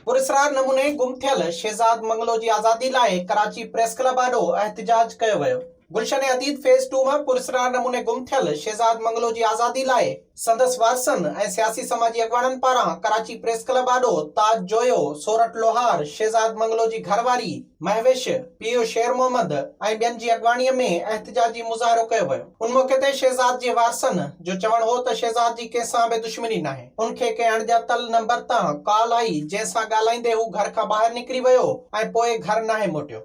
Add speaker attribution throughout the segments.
Speaker 1: پراسرار نموني گم ٿيل شهزاد منگلو جي آزادي لاء ڪراچي پريس ڪلب آڏو احتجاج ڪيو ويو گلشن عديد فيز ٽو ۾ پراسرار نموني گم ٿيل شهزاد منگلو جي آزادي لاء سندس وارثن ۽ سياسي سماجي اڳواڻن پاران ڪراچي پريس ڪلب آڏو تاج جويو، سورٺ لوهار، شهزاد منگلو جي گهر واري، مهوش، پيء شير محمد ۽ ٻين جي اڳواڻيء ۾ احتجاجي مظاهرو ڪيو ويو. ان موقعي تي شهزاد جي وارثن جو چوڻ هو ته شهزاد جي ڪنهن سان به دشمني ناهي، ان کي ڪنهن اڻڄاتل نمبر تان ڪال آئي جنهن سان ڳالهائيندي هو گهر کان ٻاهر نڪري ويو ۽ پوء گهر ناهي موٽيو.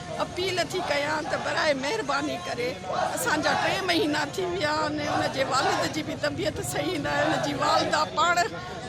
Speaker 2: اپيل ٿي ڪيان ته براهه مهرباني ڪري اسان جا ٽي مهينا ٿي ويا آهن ان جي والد جي به طبيعت صحيح ناهي ان جي والده پاڻ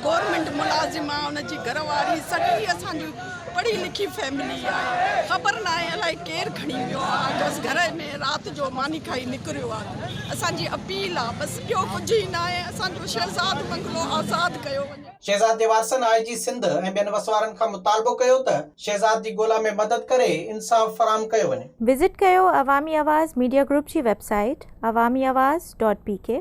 Speaker 2: گورنمينٽ ملازم آهي ان جي گهر واري سڄي اسان جي پڙهي لکي فيملي آهي خبر ناهي الائي ڪير کڻي ويو آهي بس گهر ۾ رات جو ماني کائي نڪريو آهي اسان جي اپيل آهي بس ٻيو ڪجهه ئي ناهي اسان جو شهزاد بنگلو آزاد ڪيو وڃي. شهزاد جي وارثن آء
Speaker 1: جي سنڌ ۽ ٻين وسوارن کان مطالبو ڪيو ته شهزاد جي ڳولا ۾ مدد ڪري انصاف فراهم ڪيو وڃي. وزٽ ڪيو
Speaker 3: عوامي آواز ميڊيا گروپ جي web
Speaker 1: site
Speaker 3: Awami Awaz dot P ڪي.